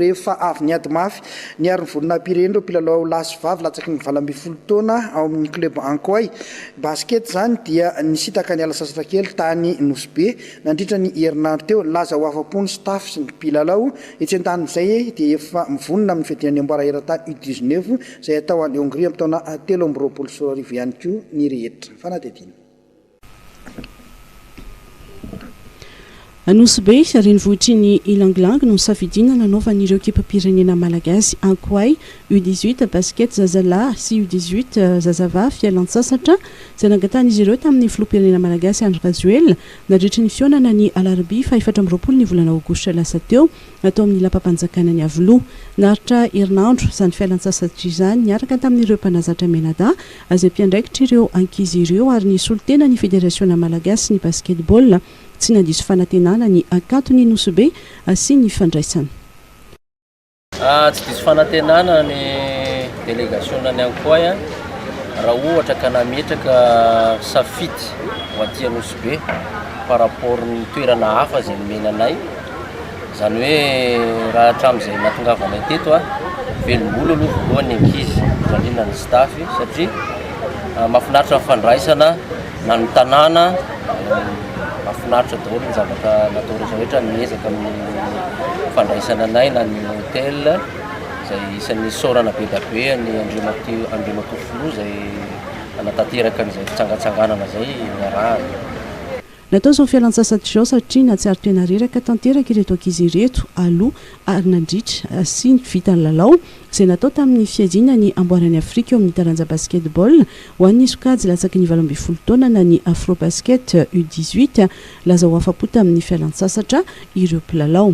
Rehefa avy niady mafy, niaro ny volonam-pireny ireo mpilalao lahy sy vavy latsaky ny valo ambin'ny folo taona ao amin'ny Club Ankoay Basket izany dia nisintaka niala sasatra kely tany Nosy Be nandritra ny herinandro teo. Nilaza ho afa-po ny staff sy ny mpilalao etsy an-tanin'izay dia efa mivonona amin'ny fiadiana ny amboara eran-tany U dix neuf izay atao any Hongrie amin'ny taona telo amby roapolo sy roa arivo ihany koa ny rehetra. Fanadihadiana. Anosibe, renivohitry ny Ilang Ilang no safidiana nanaovan'ireo ekipam-pirenena malagasy Ankoay U dix huit Basket zazalahy sy U dix huit zazavavy fialantsasatra izay nangatahan'izy ireo tamin'ny filoham-pirenena malagasy Andry Rajoelina nadritry ny fihaonana ny alarobia fahefatra amby roapolo ny volana aogositra lasa teo tao amin'ny lapam-panjakana Iavoloha. Naharitra herinandro izany fialantsasatra izany niaraka tamin'ireo mpanazatra mianadahy Azy ampiandraikitra ireo ankizy ireo ary nisolo tena ny Federasiona malagasin'ny Basketball. Tsy nandiso fanantenana ny Ankatony Nosy Be asian'ny fandraisana. Tsy diso fanantenana ny delegasionan'ny Ankoay raha ohatra ka nametraka safidy ho aty Anosibe par rapport ny toerana hafa izay nomena anay. Izany hoe raha hatramin'izay nahatongavanay teto, velom-bolo aloha voalohany ny ankizy, indrindra indrindra ny staff satria mahafinaritra ny fandraisana na ny tanàna, mahafinaritra daholo ny zavatra natao rehetra rehetra, ny ezaka amin'ny fandraisana anay na ny hotel izay isan'ny isaorana be dia be an'i Andriamatoa Andriamatoa Filoha izay nanatanteraka an'izay fitsangatsanganana izay niarahana. Natao izao fialantsasatra izao satria nahatsiaro tena reraka tanteraka ireto ankizy ireto aloha ary nandritra sy vita ny lalao izay natao tamin'ny fiadiana ny amboaran'i Afrika eo amin'ny taranja basketball ho an'ny sokajy latsaky ny valo ambin'ny folo taona na ny Afrobasket U dix huit. Laza ho afa-po tamin'ny fialantsasatra ireo mpilalao.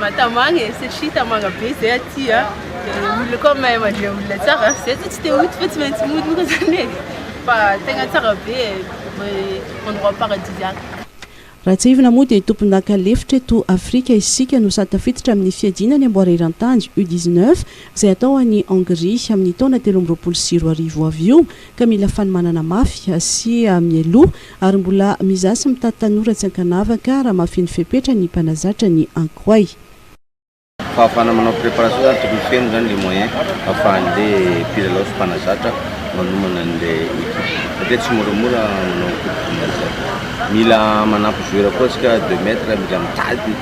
Mahatamagna e, satria tamagna be zay aty a, de olona koa mahay mandre olona tsara, zay zao tsy te hody fa tsy maintsy mody moa zany e, fa tegna tsara be e, endroit paradisiaque. Raha tsiahivina moa dia tompondaka lefitra eto Afrika isika no sady tafiditra amin'ny fiadiana ny amboara eran-tany, U dix neuf, izay hatao any Hongrie amin'ny taona telo amby roapolo sy roa arivo avy io, ka mila fanomanana mafy sy mialoha. Ary mbola mizaha sy mitady tanora tsy ankanavaka raha mafin'ny fepetra ny mpanazatra ny ankoay. Fahafahana manao préparation zany tokony feno zany le moyen afahan'le mpilalao sy mpanazatra manomana an'le équipe satria tsy moramora manao coupe du monde zany. Mila manampy joueur koa tsika deux mètres mila mitady.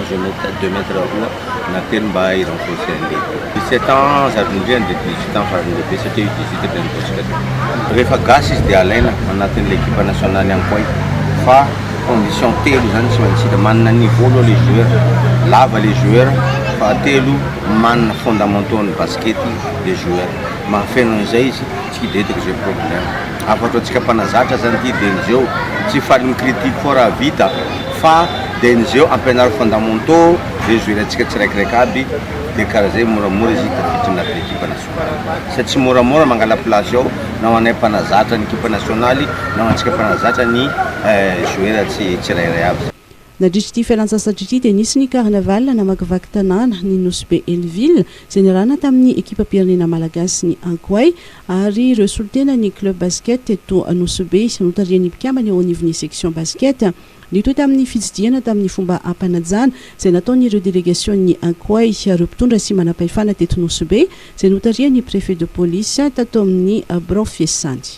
Deux mètres, deux mètres roa na telo mba hi renforcer an'i lehibe. Dix sept ans zary nindriany dia dix huit ans farany lehibe satria io dix huit dia nivondrona teo. Rehefa gasy izy dia alaina anatin'ilay ekipa nationale ihany koa izy fa condition telo izany tsy maintsy hita, manana niveau aloha ilay joueur, lava ilay joueur, fahatelo manana fondamentaux an'ny baskety ilay joueur, mahafeno an'izay izy. Tsy detik ze problem afa ataontsika mpanazatra zany ty de nzeo tsy faly mi critique fort raha vita fa de nzeo ampianaro fondamentaux ze zo ilaintsika tsiraikiraiky aby de kara zay moramora izy i tafiditra anatin ekipa nasionaly sady tsy moramora mangala place ao na ho anay mpanazatra ny ekipa nasionaly na ho antsika mpanazatra ny eh joueur tsirairay aby zany. Nadritra ity fialantsasatra ity dia nisy ny Carnaval namakivaky tanàna ny Nosy be Helleville izay niarahana tamin'ny ekipam-pirenena malagasy ny Ankoay ary ireo solontena ny club basket teto Nosy be notarihan'ny mpikambana eo anivon'ny section basket nitohy tamin'ny fitsidihana tamin'ny fomba ampanajana izay nataon'ireo delegasion'ny Ankoay ireo mpitondra sy manampahefana teto Nosy be izay notarihan'ny préfet de police tato amin'ny birao fiasany.